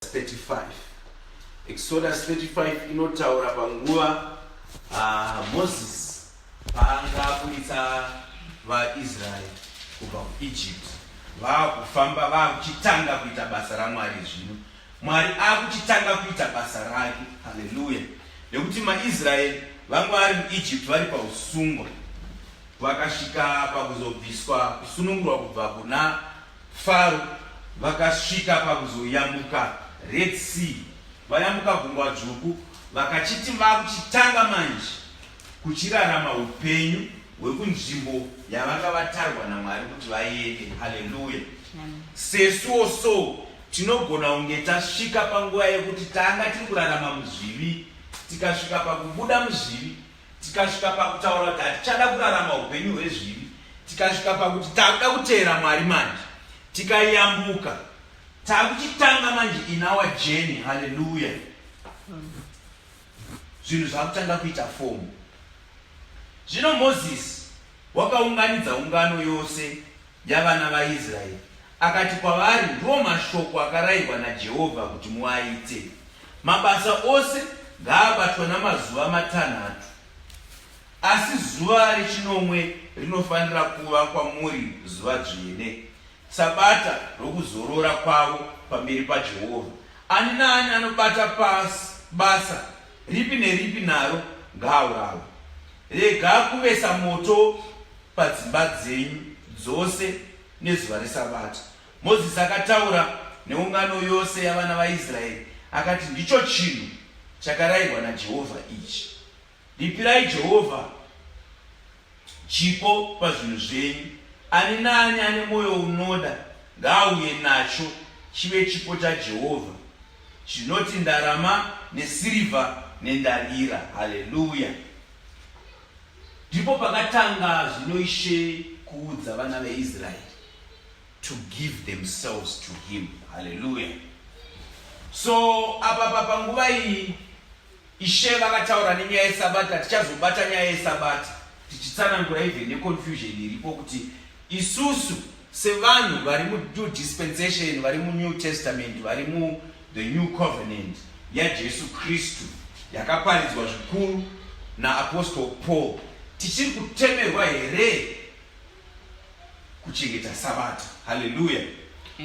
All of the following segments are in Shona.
35 Exodus 35 inotaura panguva uh, Moses paanga aburitsa vaIsraeri kubva kuEgypt vaakufamba vaakuchitanga kuita basa raMwari zvino Mwari akuchitanga kuita basa rake haleluya nekuti maIsraeri vanga vari muEgypt vari pausungwa vakasvika pakuzobviswa kusunungurwa kubva kuna Faro vakasvika pakuzoyambuka Red Sea, vayambuka gungwa dzvuku, vakachiti vakuchitanga manje kuchirarama upenyu hwekunzvimbo yavanga vatarwa naMwari kuti vaende. Haleluya! Sesuwo so tinogona kunge tasvika panguva yekuti tanga tiri kurarama muzvivi, tikasvika pakubuda muzvivi Tikasvika pakutaura kuti hatichada kurarama upenyu hwezvivi, tikasvika pakuti takuda kuteera Mwari manje, tikayambuka, takuchitanga manje in our journey. Hallelujah. Zvinhu zvakutanga kuita fomu. Zvino Moses Wakaunganidza ungano yose yavana vaIsraeri, akati kwavari, Ndiwo mashoko akarayirwa naJehovha kuti muaite, Mabasa ose ngaabatwa namazuva matanhatu, asi zuva rechinomwe rinofanira kuva kwamuri zuva dzvene, sabata rokuzorora kwavo pamberi paJehovha. Ani naani anobata basa ripi neripi naro ngaaurawe rega kuvesa moto padzimba dzenyu dzose nezuva resabata mozisi akataura neungano yose yavana vaisraeri akati ndicho chinhu chakarayirwa najehovha ichi ripirai jehovha Chipo pazvinhu zvenyu. Ani naani ane mwoyo unoda ngaauye nacho chive chipo chaJehovha. Zvinoti ndarama nesirivha nendarira. Haleluya! Ndipo pakatanga zvino Ishe kuudza vana veIsraeri to give themselves to him. Haleluya! So apa panguva iyi Ishe vakataura nenyaya yesabata tichazobata nyaya yesabata tichitsanangura even neconfusion iripo kuti isusu sevanhu vari munew dispensation vari munew testament vari mu the new covenant yajesu kristu yakaparidzwa zvikuru naapostle paul tichiri kutemerwa here kuchengeta sabata haleluya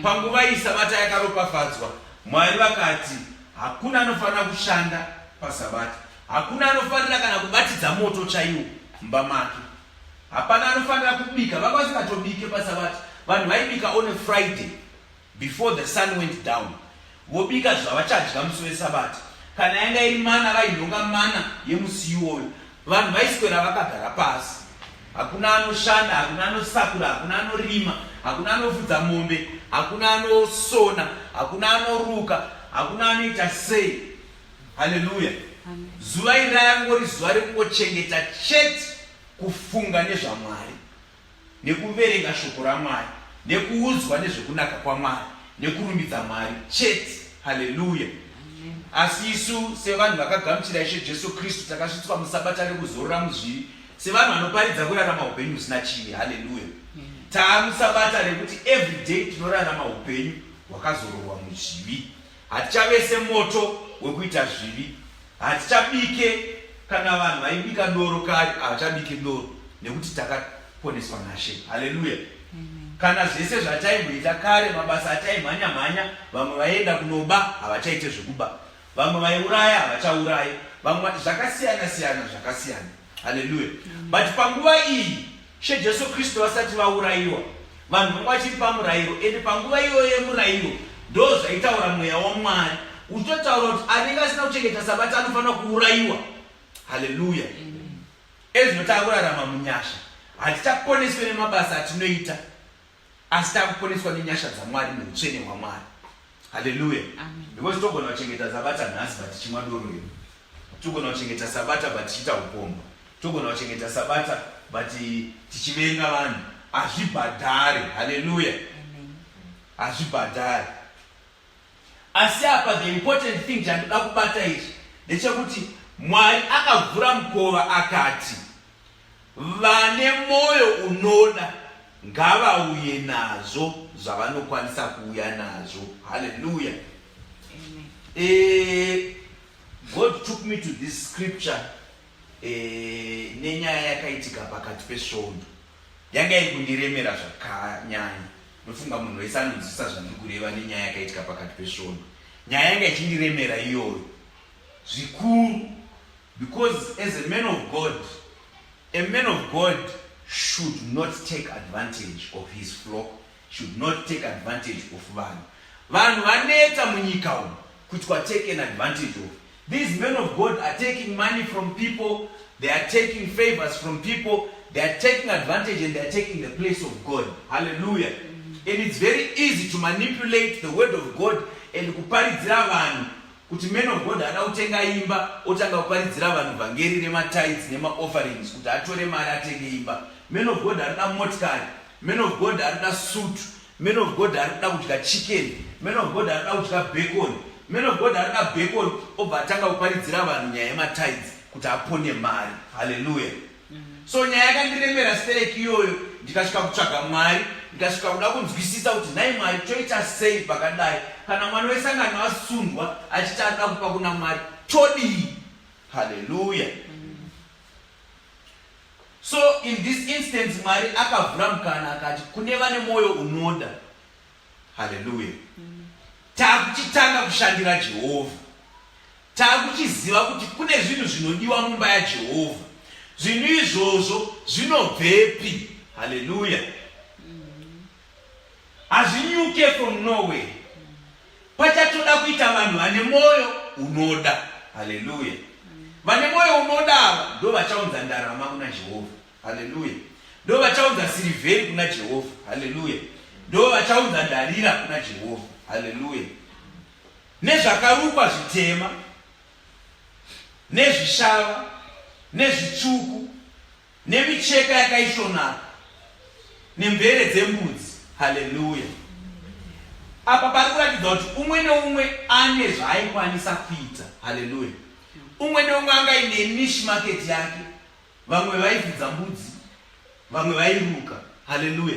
panguva iyi sabata yakaropafadzwa mwari vakati hakuna anofanira kushanda pasabata hakuna anofanira kana kubatidza moto chaiwo mumba make hapana anofanira kubika vakwasikatobike pasabata vanhu vaibika one friday Before the sun went down vobika zvavachadya musi wesabata kana yanga iri mana vainhonga mana yemusi iwoyo vanhu vaiswera vakagara pasi hakuna anoshanda hakuna anosakura hakuna anorima hakuna anofudza mombe hakuna anosona hakuna anoruka hakuna anoita sei haleluya zuva iri rayangori zuva rekungochengeta chete kufunga nezvamwari nekuverenga shoko raMwari, nekuudzwa nezvekunaka kwaMwari, nekurumbidza Mwari chete. Haleluya! Asi isu sevanhu vakagamuchira Ishe Jesu Kristu takasvitswa musabata rekuzorora muzviri, sevanhu vanoparidza kurarama upenyu husina chivi. Haleluya! Taamusabata rekuti everyday tinorarama upenyu hwakazororwa muzvivi. Hatichavese moto wekuita zvivi, hatichabike kana vanhu vaibika doro kare havachabike doro nekuti takaponeswa naShe. Haleluya! Kana zvese zvataimboita kare, mabasa ataimhanya mhanya, vamwe vaienda kunoba havachaite zvekuba, vamwe vaiuraya havachauraye, vamwe zvakasiyana siyana zvakasiyana. Haleluya. But panguva iyi she Jesu Kristu vasati vaurayiwa vanhu vanga vachiri pamurayiro and panguva iyoyo yemurayiro ndo zvaitaura mweya waMwari uchitotaura kuti anenge asina kuchengeta sabata anofanira kuurayiwa. Haleluya. Ezvinoti akurarama munyasha hatichaponeswe nemabasa atinoita. asi takuponeswa nenyasha dzamwari neutsvene hwamwari haleluya because togona kuchengeta sabata nhasi but chimwa doro iro togona kuchengeta sabata but tichiita upomba togona kuchengeta sabata but tichivenga vanhu hazvibhadhare haleluya hazvibhadhare Asi apa the important thing chandinoda kubata ichi ndechekuti Mwari akavhura mukova akati vane mwoyo unoda ngavauye nazvo zvavanokwanisa kuuya nazvo. Hallelujah. Amen. Eh, God took me to this scripture eh, nenyaya yakaitika pakati pesvondo yanga iri kundiremera zvakanyanya Ndofunga munhu wese anonzwisisa zvandiri kureva nenyaya yakaitika pakati pesvondo. Nyaya yanga ichindiremera iyoyo zvikuru because as a man of God, a man of God should not take advantage of his flock, should not take advantage of vanhu. Vanhu vanetsa munyika umu. kuti kwa taken advantage of these men of god are taking money from people they are taking favors from people they are taking advantage and they are taking the place of god hallelujah and it's very easy to manipulate the word of god and kuparidzira vanhu kuti men of god haana kutenga imba otanga kuparidzira vanhu vhangeri nematides nemaofferings kuti atore mari atenge imba men of god haana motikari Man of God arikuda suit. Man of God arikuda kudya chicken. Man of God arikuda kudya bacon. Man of God arikuda bacon obva atanga kuparidzira vanhu nyaya yematides kuti apone mari. Hallelujah. Mm-hmm. So nyaya yakandiremera stereki iyoyo ndikasvika kutsvaga Mwari ndikasvika kuda kunzwisisa kuti nhai Mwari toita sei pakadai kana mwana wesangano asundwa achiti anoda kupa kuna Mwari todii. Hallelujah. Mm-hmm. so in this instance mwari akavhura mukana akati kune vane mwoyo unoda haleluya takuchitanga kushandira jehovha takuchiziva kuti kune zvinhu zvinodiwa mumba yajehovha zvinhu izvozvo zvinobvepi haleluya hazvinyuke from norway pachatoda kuita vanhu vane mwoyo unoda haleluya vane mwoyo unoda ava ndo vachaunza ndarama kuna jehovha haleluya ndo vachaunza sirivheri kuna jehovha haleluya ndo vachaunza ndarira kuna jehovha haleluya nezvakarukwa zvitema nezvishava nezvitsvuku nemicheka yakaisvonaka nemvere dzembudzi haleluya apa pari kuratidza kuti umwe neumwe ane zvaaikwanisa kuita haleluya umwe neumwe anga ine nish market yake vamwe vaifudza mbudzi vamwe vairuka haleluya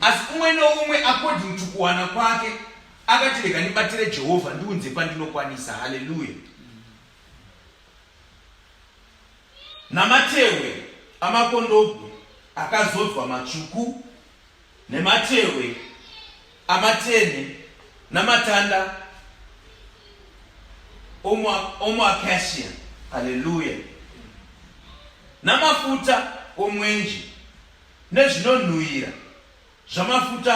asi umwe neumwe according to kuwana kwake akati rega ndibatire jehovha ndiunze pandinokwanisa haleluya namatehwe amakondobwe akazodzwa matsvuku nematehwe amatenhe namatanda omuakashia haleluya namafuta omwenje nezvinonhuhwira zvamafuta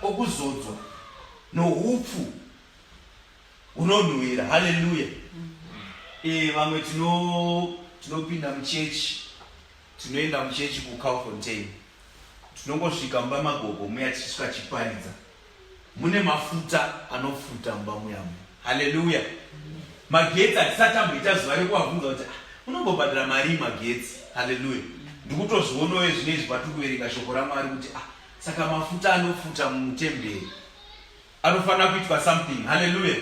okuzodzwa noupfu unonhuwira haleluya e, vamwe tinopinda tino muchechi tinoenda muchechi kucalfontain tinongosvika mumba magogo muya tichisvika chiparidza mune mafuta anofuta mumba muyamu haleluya magetsi hatisati amboita zuva rekuvabvunza kuti ah, unombobhadhira marii magetsi haleluya ndikutozvionowe zvine izvi patiri kuverenga shoko ramwari kuti ah, saka mafuta anofuta mutemberi Anofanira kuitwa something. Hallelujah.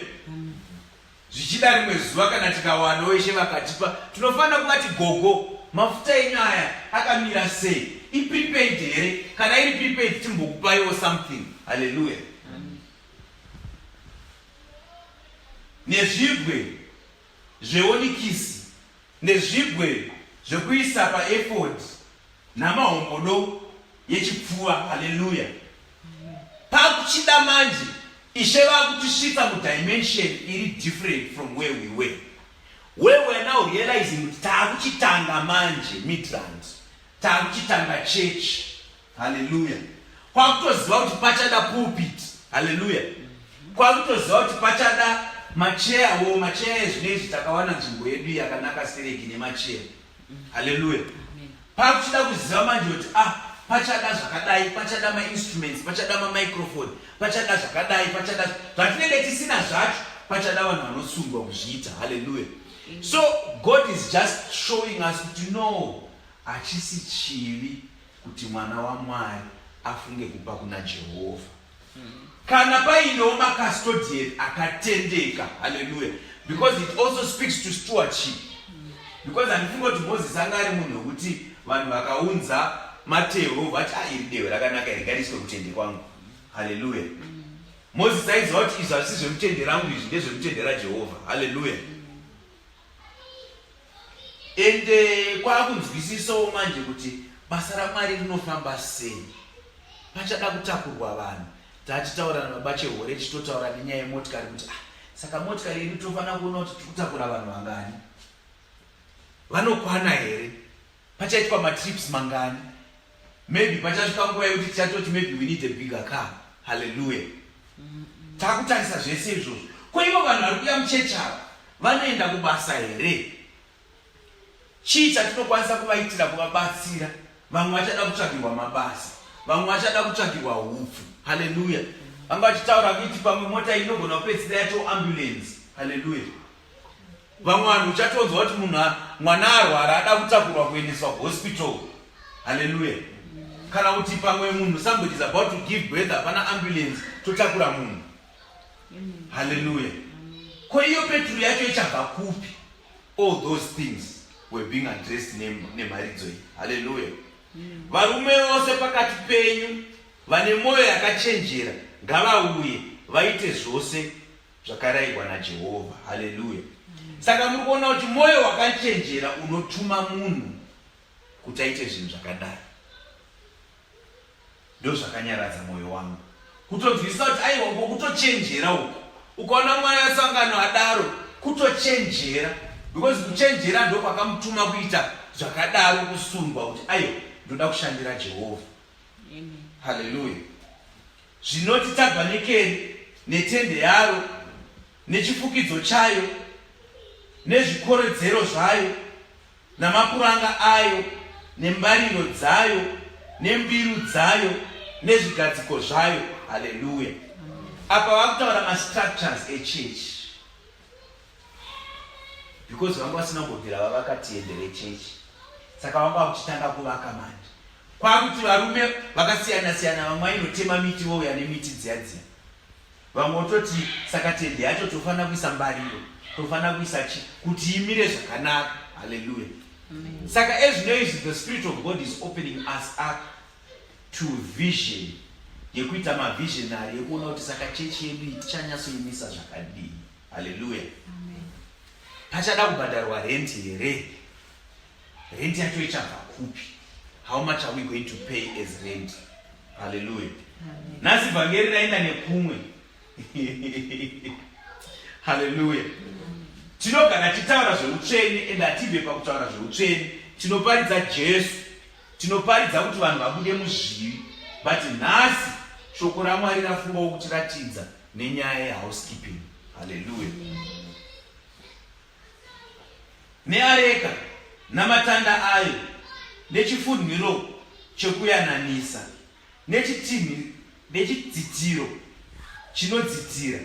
Zvichida rimwe zuva kana tikawana weshe vakatipa tinofanira kuvati gogo mafuta enyu aya akamira sei iprepaid here kana iri prepaid timbokupaiwo something haleluya nezvibwe zveonikisi, nezvigwe zvekuisa paefodhi, namahombodo yechipfuva. Haleluya! Pakuchida manje Ishe vakutisvitsa mudimension iri different from where we were. Where we are now realizing kuti taakuchitanga manje Midrand, taakuchitanga church Hallelujah. Kwakutoziva kuti pachada pulpit. Hallelujah. Kwakutoziva kuti pachada macheya wo macheya ezvino izvi takawana nzvimbo yedu yakanaka stereki nemacheya. Hallelujah. Pakuchida kuziva manje kuti ah pachada zvakadai pachada mainstruments pachada mamicrofone pachada zvakadai pachada zvatinenge tisina zvacho pachada vanhu vanosungwa kuzviita halleluya so god is just showing us kuti no hachisi chivi kuti mwana waMwari afunge kupa kuna Jehovha. Kana painewo makastodiyeri akatendeka, haleluya, because it also speaks to stewardship. Because handifunge kuti Moses anga ari munhu wekuti vanhu vakaunza matehwo vati ah, iri dehwe rakanaka iri ngariiswe kutende kwangu, haleluya. Moses aiziva kuti izvi hazvisi zvemutende rangu, izvi ndezvemutende raJehovha, haleluya. and eh, kwakunzwisisawo manje kuti basa ramwari rinofamba sei pachada kutakurwa vanhu tatitaura nababa chehore tichitotaura nenyaya yemotikari kuti ah, saka motikari yedu tofanira kuona kuti tikutakura vanhu vangani vanokwana here pachaitwa matrips mangani Maybe pachasvika nguva yekuti tichatoti maybe we need a bigger car. Hallelujah. Takutarisa zvese izvozvo. Ko ivo vanhu vari kuya muchechi ava vanoenda kubasa here? Chii chatinokwanisa kuvaitira kuvabatsira? Vamwe vachada kutsvagirwa mabasa, vamwe vachada kutsvagirwa upfu. Hallelujah. Vanga vachitaura kuti pamwe mota inogona kupedzisira yato ambulance. Hallelujah. vamwe vanhu uchatonzwa kuti munhu mwana arwara ada kutakurwa kuendeswa kuhospital halleluya kana kuti pamwe munhu somebody is about to give birth hapana ambulance totakura munhu halleluya ko iyo peturu yacho ichabva kupi all those things were being addressed nemharidzo iyi halleluya varume vose pakati penyu vane mwoyo yakachenjera ngavauye vaite zvose zvakarayirwa naJehovha. Haleluya! Saka muri kuona kuti mwoyo wakachenjera unotuma munhu kuti aite zvinhu zvakadai. Ndozvakanyaradza mwoyo wangu kutonzwisisa kuti aiwa ngo kutochenjera uku. Ukaona mwana asangano adaro, kutochenjera because kuchenjera ndokwakamutuma kuita zvakadaro, kusundwa kuti aiwa ndoda kushandira Jehovha. Haleluya! zvinoti tabhanikeri netende yaro nechifukidzo chayo nezvikoredzero zvayo namapuranga ayo nembariro dzayo nembiru dzayo nezvigadziko zvayo haleluya apa vakutaura mastructures echechi because vanga vasina kubvira vavakati endere chechi saka vanga vakuchitanga kuvaka manje kwakuti varume vakasiyana siyana vamwe ainotema miti vouya nemiti dziya dziya vamwe vototi saka tende yacho tofanira kuisa mbariro tofanira kuisa chi kuti imire zvakanaka haleluya saka ezvino izvi the spirit of god is opening us up to vision yekuita mavisionary yekuona kuti saka chechi yedu iyi tichanyatsoimisa zvakadii haleluya pachada kubhadharwa rent here rent yacho ichabva kupi how much are we going to pay as rent haleluya nhasi vhangeri raenda nekumwe haleluya tinogara titaura zveutsvene and hatibve pakutaura zveutsvene tinoparidza jesu Tinoparidza kuti vanhu vabude muzvivi but nhasi shoko raMwari rafungawo kutiratidza nenyaya yehousekeeping. Haleluya. Neareka namatanda ayo nechifunhiro chekuyananisa. nechitinhi nechidzitiro chinodzitira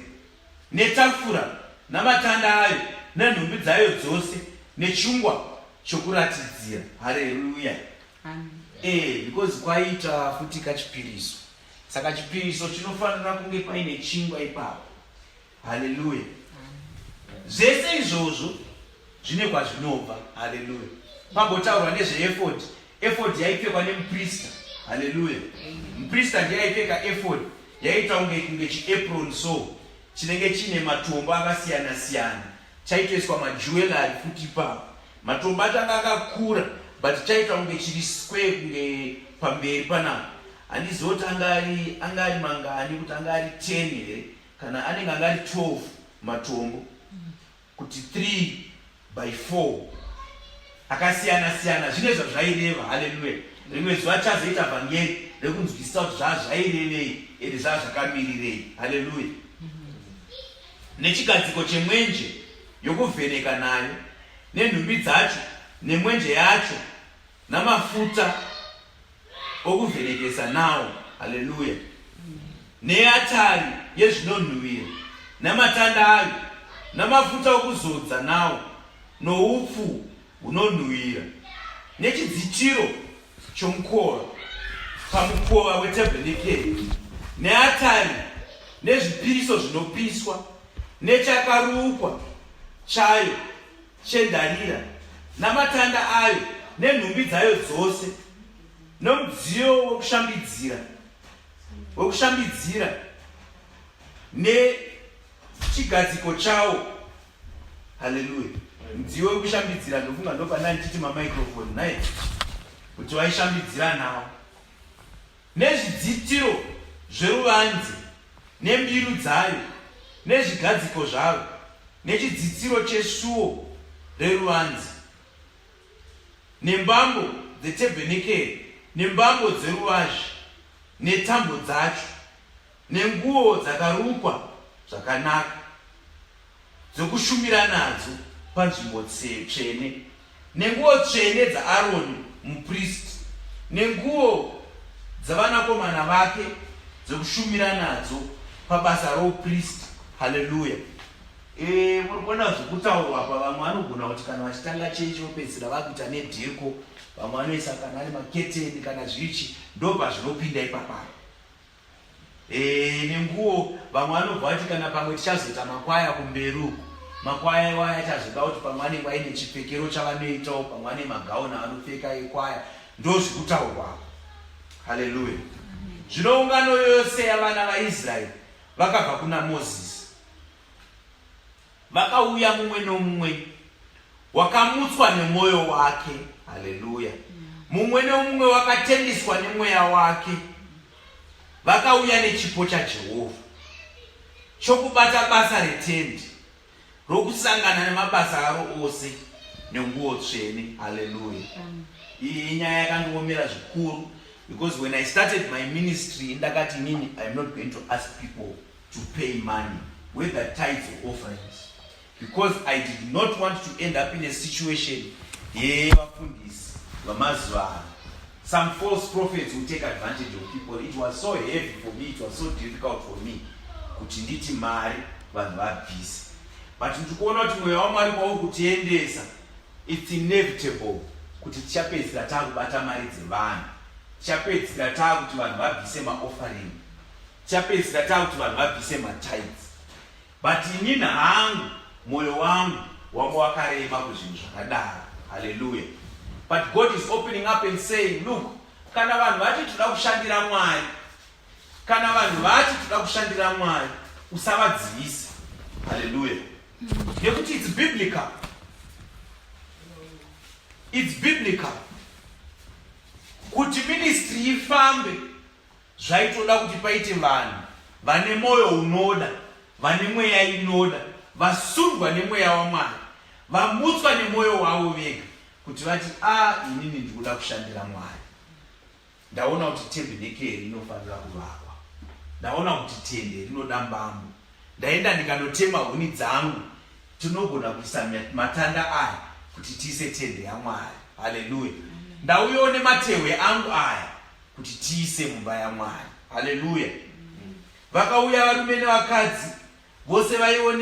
netafura namatanda ayo nenhumbi dzayo dzose nechingwa chokuratidzira hareruya ee eh, because kwaita futi kachipiriso saka chipiriso chinofanira kunge paine chingwa ipapo Haleluya. Zvese izvozvo zvine kwazvinobva. Haleluya. Pagotaurwa nezveefodhi, efodhi yaipfekwa nemuprista. Haleluya. Muprista ndiye aipfeka efodhi, yaiita kunge kunge chiapron so chinenge chine matombo akasiyana siyana, chaitoiswa majewellery futi ipapo. Matombo acho anga akakura but chaita kunge chiri square kunge pamberi panapa. Handizivi kuti anga ari anga ari mangani, kuti anga ari ten here kana anenge anga ari 12 matombo kuti 3 by 4 akasiyana siyana zvine zvazvaireva haleluya rimwe zuva chazoita vhangeri rekunzwisisa kuti zvaa zvairevei ende zvaa zvakamirirei haleluya nechigadziko chemwenje yokuvheneka nayo nenhumbi dzacho nemwenje yacho namafuta okuvhenekesa nawo haleluya neatari yezvinonhuhwira namatanda ayo namafuta okuzodza nawo noupfu hunonhuhwira nechidzitiro chomukova pamukova wetabhenekeri neatari nezvipiriso zvinopiswa nechakarukwa chayo chendarira namatanda ayo nenhumbi dzayo dzose nomudziyo wekushambidzira wekushambidzira nechigadziko chawo haleluya mudziyo wekushambidzira ndofunga ndopandandichiti mamicrofoni naye kuti waishambidzira nawo nezvidzitiro zveruvanze nembiru dzayo nezvigadziko zvaro nechidzitiro chesuo reruvanze nembambo dzetebhenekeri nembambo dzeruvazhe netambo dzacho nenguo dzakarukwa zvakanaka dzokushumira nadzo panzvimbo tsvene, nenguo tsvene dzaAroni mupristi, nenguo dzavanakomana vake dzokushumira nadzo pabasa roupristi. Haleluya! Eh, muri kuona zvokutaurwa apa. Vamwe vanogona kuti kana vachitanga chechi vopedzisira vakuita nedheko, vamwe vanoisa kana ari maketeni kana zvichi, ndopazvinopinda ipapaa. Eh, nenguwo vamwe vanobva vati kana pamwe tichazoita makwaya kumberi uku makwaya iwaya achazoda kuti pamwe anenge aine chipfekero chavanoitawo pamwe ane magauni avanopfeka ekwaya ndo zvekutaurwa haleluya zvino ungano yose yavana vaisraeri vakabva kuna mozisi Vakauya mumwe nomumwe wakamutswa nemwoyo wake. Haleluya! Mumwe nomumwe wakatendiswa nemweya wake. Vakauya nechipo chaJehovha chokubata basa retendi rokusangana nemabasa aro ose nenguwo tsvene. Haleluya! Iyi inyaya yakandiomera zvikuru because when I started my ministry ndakati inini I'm not going to ask people to pay money whether tithes or offerings because I did not want to end up in a situation yevafundisi vamazuva ano some false prophets will take advantage of people it was so heavy for me it was so difficult for me kuti nditi mari vanhu vabvise but ndiri kuona kuti mweya wamwari kwauri kutiendesa its inevitable kuti tichapedzisira taakubata mari dzevanhu tichapedzisira taakuti vanhu vabvise maoffering chapedzisira takuti vanhu vabvise matides but inini hangu mwoyo wangu wanga wakarema kuzvinhu zvakadaro haleluya but god is opening up and saying look kana vanhu vati toda kushandira mwari kana vanhu vati toda kushandira mwari usavadzivisa haleluya nekuti its biblical its biblical kuti ministry ifambe Zvaitoda kuti paite vanhu vane mwoyo unoda, vane mweya inoda, vasundwa nemweya waMwari, vamutswa nemwoyo wavo vega kuti vati a inini ndikuda kushandira Mwari. Ndaona kuti tebhenekeri inofanira kuvakwa. Ndaona kuti tende rinoda mbambo. Ndaenda ndikanotema huni dzangu, tinogona kuisa matanda aya kuti tiise tende yaMwari. Haleluya! Ndauyawo nematehwe angu aya kuti tiise mumba yamwari haleluya vakauya varume nevakadzi vose vaiwo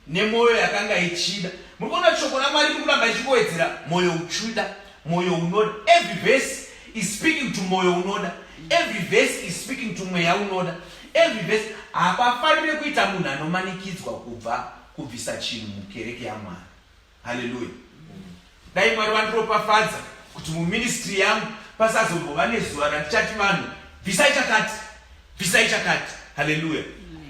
nemwoyo yakanga ichida muri kuona shoko ramwari riri kuramba ichingowedzera mwoyo uchuda mwoyo unoda every verse is speaking to mwoyo unoda every verse is speaking to mweya unoda every verse hapafanire kuita munhu anomanikidzwa kubva kubvisa chinhu mukereke yamwari haleluya dai mwari vandiropafadza kuti muministry yangu pasazombova nezuva randichati vanhu bvisai chakati bvisai chakati haleluya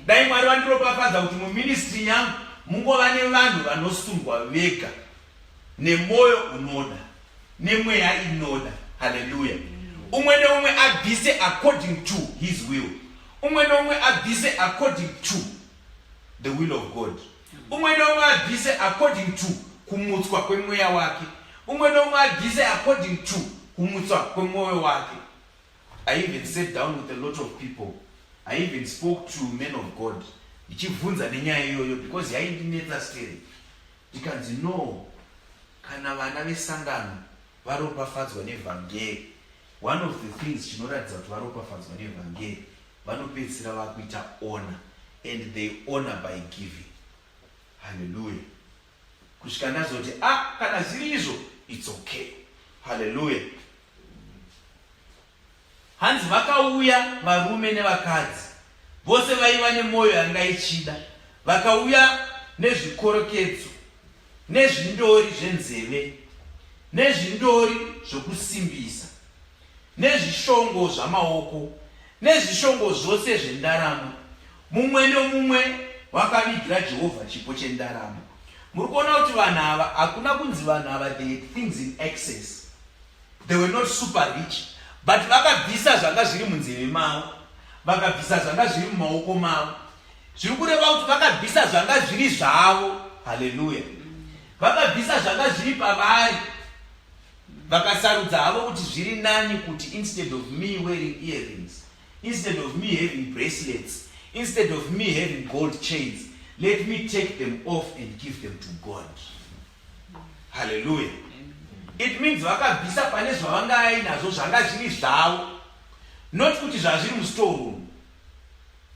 dai mwari vandiropafadza kuti muministry yangu mungova nevanhu vanosungwa vega nemwoyo unoda nemweya inoda haleluya umwe neumwe abvise according to his will umwe neumwe abvise according to the will of god Umwe neumwe abvise according to kumutswa kwemweya wake. Umwe neumwe abvise according to kumutswa kwemwoyo wake. I even sat down with a lot of people. I even spoke to men of God ndichibvunza nenyaya iyoyo because yaindinetsa stere ndikanzi no kana vana vesangano varopafadzwa nevhangeri One of the things chinoratidza kuti varopafadzwa nevhangeri vanopedzisira vakuita honor and they honor by giving. Hallelujah. Kusvika ndazoti ah kana zviri izvo it's okay. Hallelujah. Hanzi vakauya varume nevakadzi vose vaiva nemwoyo yanga ichida vakauya nezvikorokedzo nezvindori zvenzeve, nezvindori zvokusimbisa, nezvishongo zvamaoko, nezvishongo zvose zvendarama. Mumwe nomumwe wakavigira Jehovha chipo chendarama. Muri kuona kuti vanhu ava hakuna kunzi vanhu ava they had things in excess. They were not super rich. But vakabvisa zvanga zviri munzeve mavo, vakabvisa zvanga zviri mumaoko mavo, zviri kureva kuti vakabvisa zvanga zviri zvavo haleluya vakabvisa zvanga zviri pavari vakasarudza havo kuti zviri nani kuti instead of me wearing earrings instead of me having bracelets instead of me having gold chains let me take them off and give them to god haleluya it means vakabvisa pane zvavanga ainazvo zvanga zviri zvavo not kuti zvazviri mustoreroom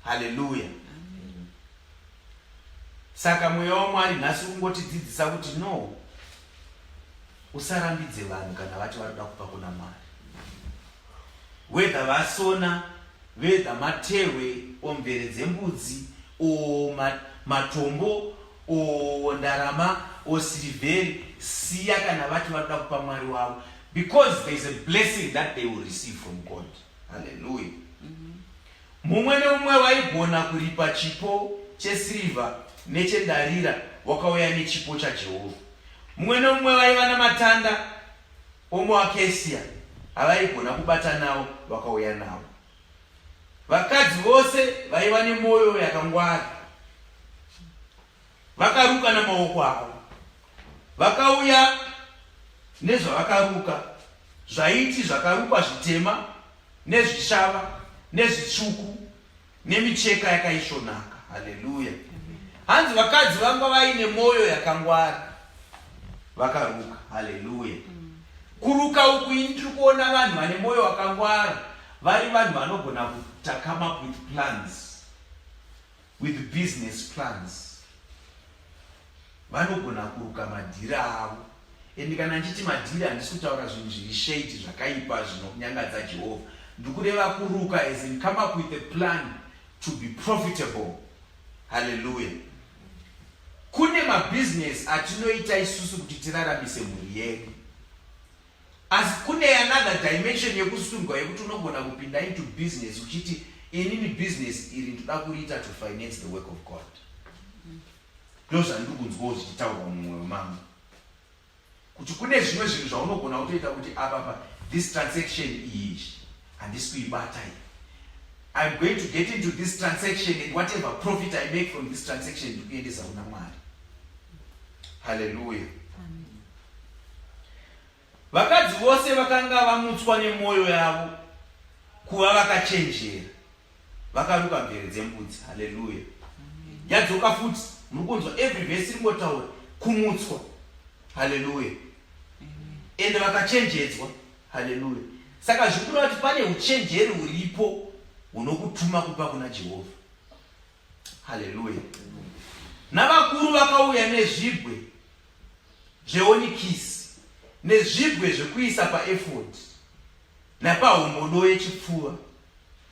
haleluya saka mweya wamwari nhasi ungotidzidzisa kuti no usarambidze vanhu kana vati varikuda kupa kuna mwari wedha vasona vedha matewe o mvere dzembudzi o matombo o ndarama o sirivheri siya kana vati vanoda kupa mwari wavo because there is a blessing that they will receive from god halleluya mm -hmm. Mumwe nomumwe waigona kuripa chipo chesirivha nechendarira wakauya nechipo chaJehovha. Mumwe nomumwe vaiva namatanda omuakesia avaigona kubata nawo vakauya nawo. Vakadzi vose vaiva nemwoyo yakangwara. Vakaruka namaoko avo. Vakauya nezvavakaruka zvaiti zvakarukwa zvitema nezvishava nezvitsvuku nemicheka yakaisvonaka. Haleluya! Hanzi vakadzi vanga vaine mwoyo yakangwara vakaruka. Haleluya! Kuruka uku ini tiri kuona vanhu vane mwoyo wakangwara vari vanhu vanogona kutakama with plans with business plans vanogona kuruka madhiri avo and kana ndichiti madhiri handisi kutaura zvinhu zviri shade zvakaipa zvinokunyangadza jehovha ndikureva kuruka as in come up with a plan to be profitable halleluya kune mabhizinesi atinoita isusu kuti tiraramise mhuri yedu Asi kune another dimension yekusundwa yekuti unogona kupinda into business uchiti inini business iri ndoda kuriita to finance the work of God. Ndozvandiri kunzwawo zvichitaurwa mumwe wemambo kuti kune zvimwe zvinhu zvaunogona kutoita kuti apapa this transaction iyi handisi kuibata iyi I'm going to get into this transaction and whatever profit I make from this transaction ndikuendesa kuna Mwari. Hallelujah. Vakadzi vose vakanga vamutswa nemwoyo yavo kuva vakachenjera vakaruka mvere dzembudzi. Haleluya! Yadzoka futi, muri kunzwa every vhesi ringotaura kumutswa. Haleluya! Ende vakachenjedzwa. Haleluya! Saka zviri kureva kuti pane uchenjeri huripo hunokutuma kupa kuna Jehovha. Haleluya! Navakuru vakauya nezvibwe zveonikisi nezvibwe zvekuisa paefodhi napahombodo yechipfuva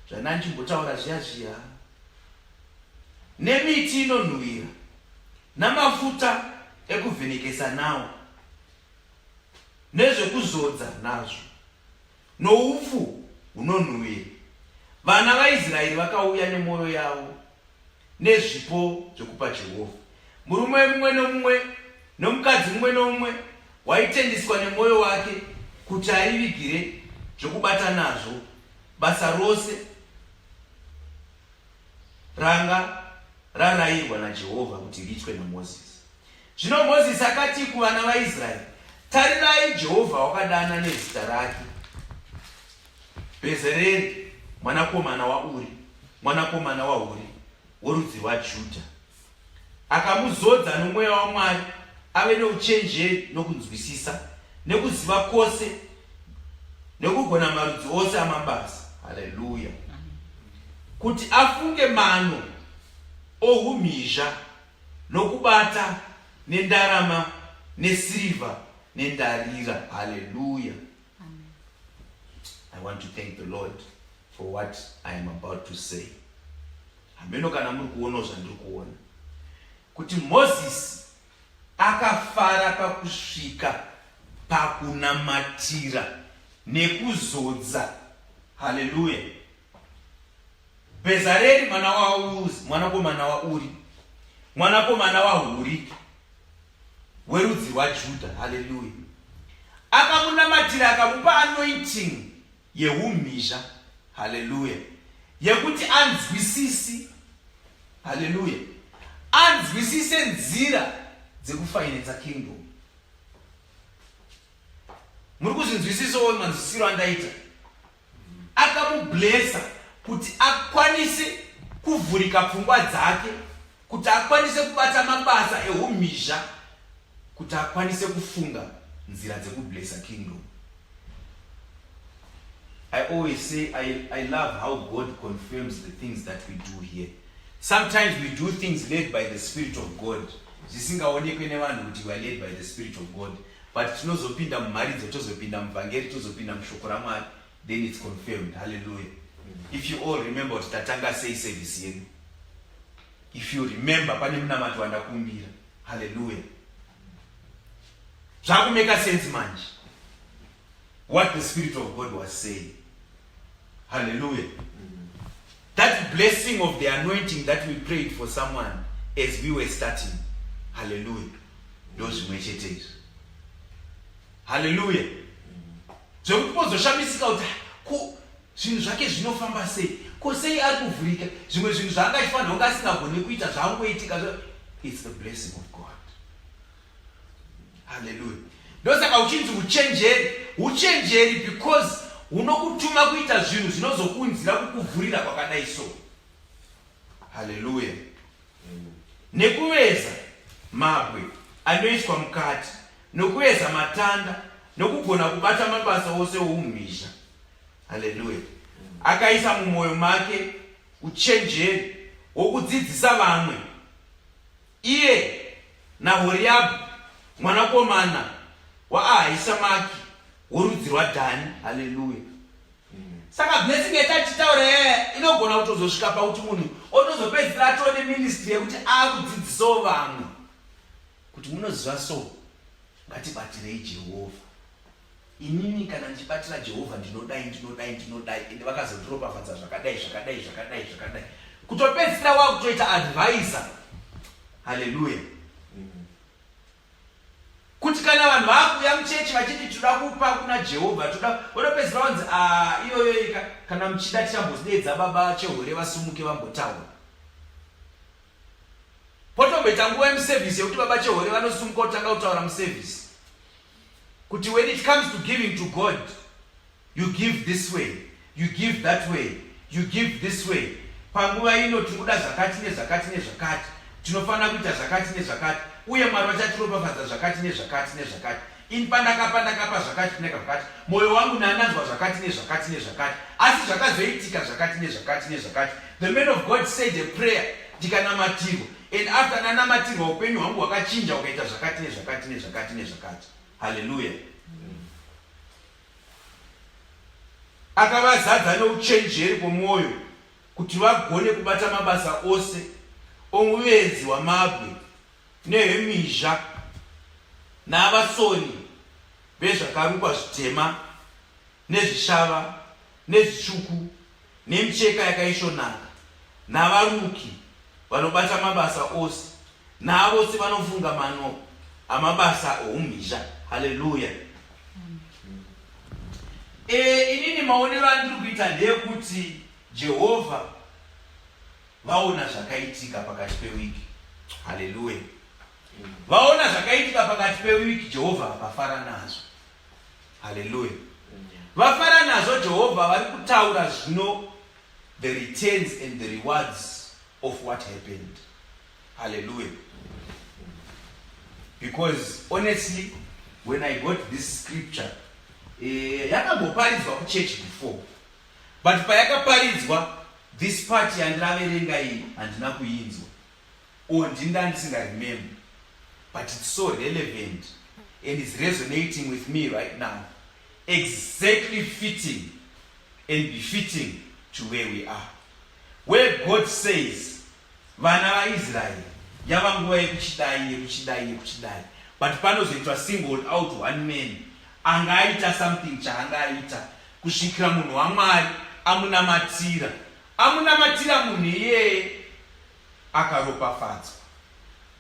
zvandanjimbotaura zviya zviya nemiti inonhuhwira namafuta ekuvhenekesa nawo nezvekuzodza nazvo Noupfu hunonhuwira vana vaIsraeri vakauya nemwoyo yavo nezvipo zvekupa Jehovha. Murume mumwe nomumwe nomukadzi mumwe nomumwe waitendiswa nemwoyo wake kuti aivigire zvokubata nazvo basa rose ranga rarayirwa naJehovha kuti riitwe naMozisi. Zvino Mozisi akati kuvana vaIsraeri, Tarirai, Jehovha wakadana nezita rake Bhezereri mwanakomana waUri, mwanakomana waHuri, worudzi rwaJudha. Akamuzodza nomweya waMwari ave nouchenjeri nokunzwisisa, nekuziva kwose, nekugona marudzi ose amabasa. Haleluya! Kuti afunge mano ohumhizha nokubata nendarama nesirivha nendarira haleluya i want to thank the lord for what i am about to say hameno kana muri kuonawo zvandiri kuona kuti mozisi akafara pakusvika pakunamatira nekuzodza haleluya Bhezareri mwana waUzi mwanakomana waUri mwanakomana waHuri werudzi rwaJudha. Haleluya! Akamunamatira akamupa anointing yeumhizha. Haleluya! Yekuti anzwisisi. Haleluya! Anzwisise nzira dzekufainenza kingdom. Muri kuzvinzwisisawo manzwisiro andaita akamublesa kuti akwanise kuvhurika pfungwa dzake kuti akwanise kubata mabasa ehumhizha kuti akwanise kufunga nzira dzekublesa kingdom i always say I, i love how god confirms the things that we do here sometimes we do things led by the spirit of god zvisingaonekwe nevanhu kuti weare led by the spirit of god but tinozopinda mumharidzo tozopinda muvhangeri tozopinda mushoko ramwari then its confirmed halleluya if you all remember kuti tatanga sei service yedu if you remember pane munamato wandakumbira halleluya zvakumeka sense manje what the spirit of god was saying Hallelujah. That blessing of the anointing that we prayed for someone as we were starting. Hallelujah. Ndozvimwe chete izvi. Hallelujah. Zvekuti pozoshamisika kuti ko zvinhu zvake zvinofamba sei? Ko sei ari kuvhurika? Zvimwe zvinhu zvaanga achifanira kunge asingagoni kuita zvaangoitika. It's the blessing of God. haleluya ndosaka uchinzi uchenjeri uchenjeri because unokutuma kuita zvinhu zvinozokuunzira kukuvhurira kwakadai so haleluya nekuveza mabwe anoiswa mukati nokuveza matanda nokugona kubata mabasa ose oumhizha haleluya akaisa mumwoyo make uchenjeri wokudzidzisa vamwe Iye naHoriabhu mwanakomana waAhishamaki worudzi rwaDhani. Haleluya! Saka blessing yatachitaura yaya inogona kutozosvika pakuti munhu otozopedzisira atove neministry yekuti akudzidzisawo vamwe kuti munoziva so ngatibatirei Jehovha. Inini kana ndichibatira Jehovha ndinodai ndinodai ndinodai ende vakazondiropafadza zvakadai zvakadai zvakadai zvakadai kutopedzisira wakutoita advisor haleluya kuti kana vanhu vakuuya muchechi vachiti tinoda kupa kuna jehovha toda vanopedzisira vanzi ah, iyoyoika kana muchida tichambozidedza baba chehore vasumuke vambotaura potomboita nguva yemusevhisi yekuti baba chehore vanosumuka kutanga kutaura musevhisi kuti when it comes to giving to God you give this way you give that way you give this way panguva ino tiri kuda zvakati nezvakati nezvakati tinofanira kuita zvakati nezvakati uye mwari vachatiropafadza zvakati nezvakati nezvakati ini pandakapa ndakapa zvakati kuneka zvakati mwoyo wangu nananzwa zvakati nezvakati nezvakati asi zvakazoitika zvakati nezvakati nezvakati the man of god said a prayer ndikanamatirwa and after ndanamatirwa upenyu hwangu hwakachinja ukaita zvakati nezvakati nezvakati nezvakati haleluya akavazadza neuchenjeri kwomwoyo kuti vagone kubata mabasa ose omuvenzi wamabwe nehemizha navasoni vezvakarukwa zvitema nezvishava, nezvitsvuku, nemicheka yakaisvonaka, navaruki vanobata mabasa ose, navose vanofunga mano amabasa oumhizha. Haleluya! E, inini maonero andiri kuita ndeyekuti Jehovha vaona zvakaitika pakati pewiki. Haleluya! Vaona zvakaitika pakati pewiki, Jehovha akafara nazvo. haleluya vafara nazvo jehovha vari kutaura zvino the returns and the rewards of what happened haleluya because honestly when i got this scripture eh, yakamboparidzwa kuchurch before but payakaparidzwa this part yandiraverenga iyi handina kuinzwa or ndini ndandisinga remember but it's so relevant and is resonating with me right now exactly fitting and befitting to where we are where god says vana vaisraeri yava nguva yekuchidai yekuchidai yekuchidai but panozoitwa singled out one man anga aita something chaanga aita kusvikira munhu wamwari amunamatira Amunamatira munhu iyeye akaropafadzwa.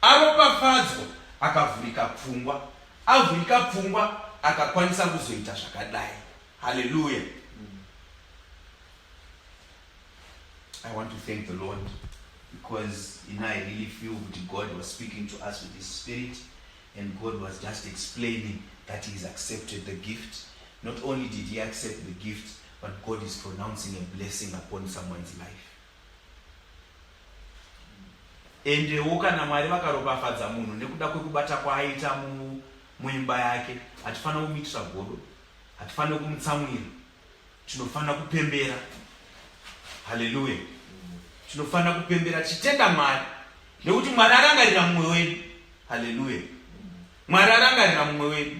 Aropafadzwa akavhurika pfungwa. Avhurika pfungwa akakwanisa kuzoita zvakadai. Hallelujah. I want to thank the Lord because you know I really feel that God was speaking to us with His Spirit, and God was just explaining that He's accepted the gift. Not only did He accept the gift, but God is pronouncing a blessing upon someone's life endewo kana mwari vakaropafadza munhu nekuda kwekubata kwaaita mu, muimba yake hatifanira kumuitira godo hatifanira kumutsamwira tinofanira kupembera haleluya tinofanira kupembera tichitenda mwari nekuti mwari arangarira mumwe wedu haleluya mwari arangarira mumwe wedu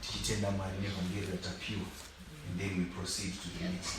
tichitenda mwari nevhangeri ratapiwa and then we proceed to the next